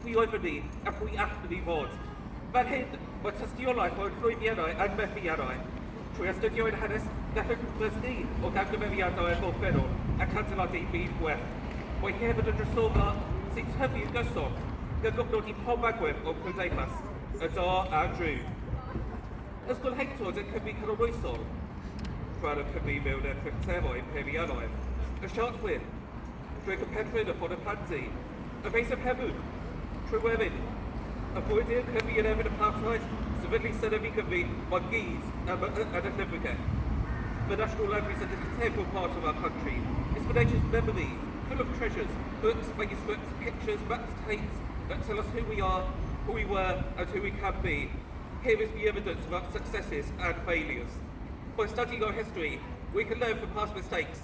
pwy oedd wedi a phwy allwn i fod. Fan hyn, mae tystiolaeth o'r llwyddiannau a'r methiannau. Trwy astudio ein hanes, gallwch ymglas ni o gamgymeriadau a bob berw ac adeiladu i byd gwell. Mae hi hefyd yn drysorfa sy'n tyfu'n gyson, gan gofnodi i pob agwedd o'n cymdeithas, y da a'r drud. Ysgol Hector yn Cymru canoloesol, rhan o Cymru mewn erchyllteroedd peiriannoedd, y siart gwyn, Dywed y perchnoeth y bod y plant eu. Ac eisaf hefyd, trwy wefyd, y bwyd i'r cyfi i'r efyd y plant oed, sefydlu synefu cyfi, ond gyd yn y llyfrgell. The National Library is an integral part of our country. It's for nature's memory, full of treasures, books, manuscripts, pictures, maps, tapes that tell us who we are, who we were, and who we can be. Here is the evidence of our successes and failures. By studying our history, we can learn from past mistakes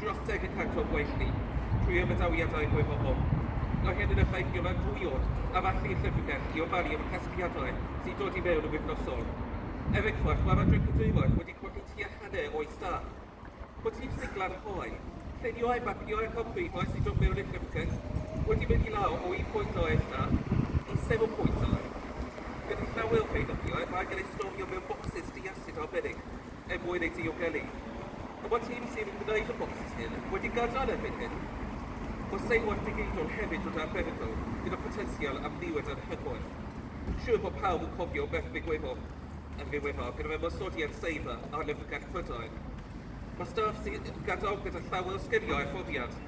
dros deg y cant o'n gwaith ni, trwy ymadawiadau mwy pobl. Mae hyn yn effeithio mewn dwy od, am allu llyfrgell i ofalu am y casgliadau sy'n dod i mewn yn wythnosol. Er enghraifft, mae'r Adran Cadwylaeth wedi colli tua hanner o'i staff. Motif sigla'r hoe, llunio a mapio eich amrwythau sy'n dod mewn i'r llyfrgell, wedi mynd i lawr o un pwynt o eich staff i sefyll pwynt o eich. Gyda llawer o Feirniaid, mae angen eu storio mewn bocsys di-asid arbennig. er mwyn ei diogelu. Y mae tîm sy'n gwneud y bocsys hyn wedi gadael erbyn hyn. Mae seilwaith digidol hefyd yn arbenigol gyda photensial am niwed anhygoel. Siŵr bod pawb yn cofio beth ddigwyddodd yn ddiweddar gyda'r ymosodiad seiber ar Lyfrgell Prydain. Mae staff sy'n gadael gyda llawer o sgiliau a phrofiad.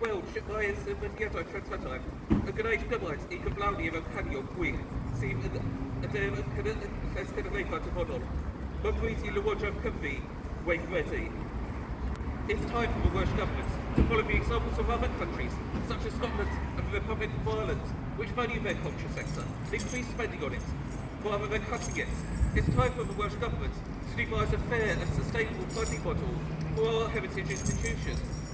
gweld sut mae sefydliadau treftadaeth yn gwneud gymaint i gyflawni yr amcanion gwych sydd yn y de yn Llys Cenedlaethau'r dyfodol. Mae'n bryd i Lywodraeth Cymru weithredu. It's time for the Welsh Government to follow the examples of other countries, such as Scotland and the Republic of Ireland, which value their culture sector and increase spending on it, rather than cutting it. It's time for the Welsh Government to devise a fair and sustainable funding model for our heritage institutions.